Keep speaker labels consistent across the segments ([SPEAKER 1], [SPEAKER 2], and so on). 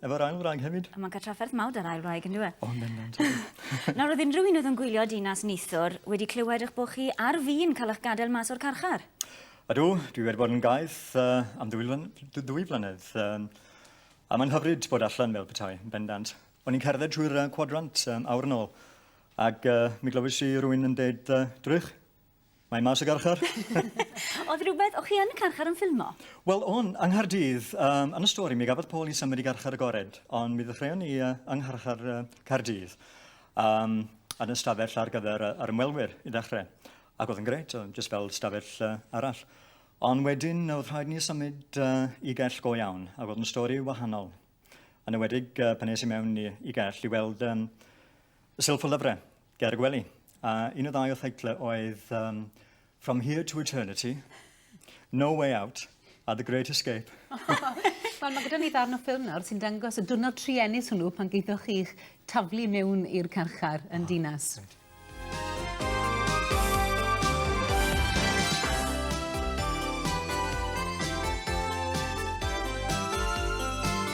[SPEAKER 1] Efo'r ail wraig hefyd. Mae'n cael trafferth mawr da'r ail wraig, yndyw e? O, yn bendant, ydy. Nawr, oedd unrhyw un oedd yn gwylio Dinas Neithiwr wedi clywed eich bod chi ar fin cael eich gadael mas o'r carchar? Ydw, dwi wedi bod yn gaeth uh, am ddwy, flan, ddwy flynedd. Um, a mae'n hyfryd bod allan fel petai, yn bendant. O'n i'n cerdded trwy'r uh, cwadrant um, awr yn ôl, ac uh, mi glywys i rwy'n yn deud uh, drych. Mae mas y garchar. Oedd rhywbeth, o'ch chi yn y carchar yn ffilmo? Wel, o'n, yng Nghaerdydd, um, yn y stori, mi gafodd Paul i symud i garchar y gored, ond mi ddechreuon ni uh, yng ngharchar uh, Caerdydd, um, yn y stafell ar gyfer uh, yr ymwelwyr i ddechrau. Ac oedd yn gret, jyst fel stafell uh, arall. Ond wedyn, oedd rhaid ni symud uh, i gell go iawn, ac oedd yn stori wahanol. Yn ywedig uh, pan nes i mewn i, i gell i weld um, silff o lyfrau Ger y gwely. A un o ddau o theitlau oedd um, From Here to Eternity, No Way Out a The Great Escape. Wel, mae gyda ni ddarn o ffilm nawr sy'n dangos y dwrnod truenus hwnnw pan geithoch chi'ch taflu mewn i'r carchar yn oh, dinas. Right.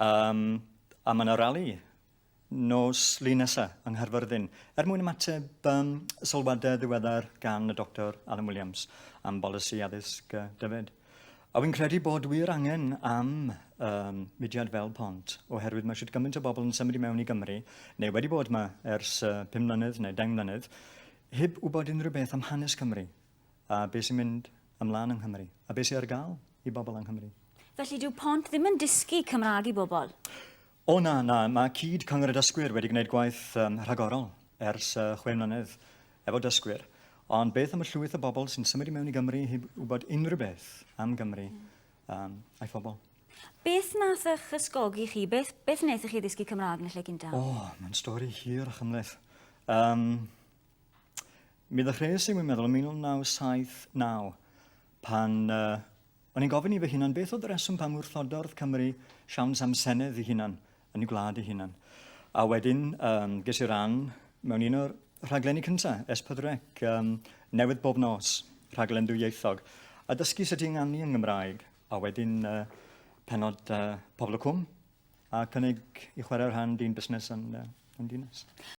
[SPEAKER 1] Yym, a mae 'na rali nos Lun nesa yng Nghaerfyrddin. Er mwyn ymateb um, sylwadau ddiweddar gan y Doctor Alan Williams am bolisi addysg uh, dyfed. A wy'n credu bod wir angen am um, mudiad fel pont, oherwydd mae eisiau gymaint o bobl yn symud i mewn i Gymru, neu wedi bod yma ers uh, 5 mlynedd neu 10 mlynedd, heb wybod unrhyw beth am hanes Cymru. A be sy'n mynd ymlaen yng Nghymru? A be sy ar gael i bobl yng Nghymru? Felly dyw Pont ddim yn dysgu Cymraeg i bobl? O na, na, mae cyd Cyngor y Dysgwyr wedi gwneud gwaith um, rhagorol ers uh, chwe mlynedd efo dysgwyr. Ond beth am y llwyth o bobl sy'n symud i mewn i Gymru heb wybod unrhyw beth am Gymru um, a'i phobl? Beth nath eich ysgogi chi? Beth, beth wnaethoch chi ddysgu Cymraeg yn y lle gyntaf? O, oh, mae'n stori hir a chymleth. Um, Mi ddechreuais i, wi'n meddwl, yn 1979, pan uh, o'n i'n gofyn i fy hunan beth oedd y reswm pam wrthodordd Cymru siawns am Senedd i hunan, yn ei gwlad i hunan. A wedyn, um, ges i ran mewn un o'r rhaglenni cyntaf, Espydrec, um, newydd bob nos, rhaglen dwyieithog, a dysgu sut i ynganu yng Ngymraeg, a wedyn uh, penod uh, Pobl y Cwm, a cynnig i chwarae rhan dyn busnes yn, uh, yn dinas.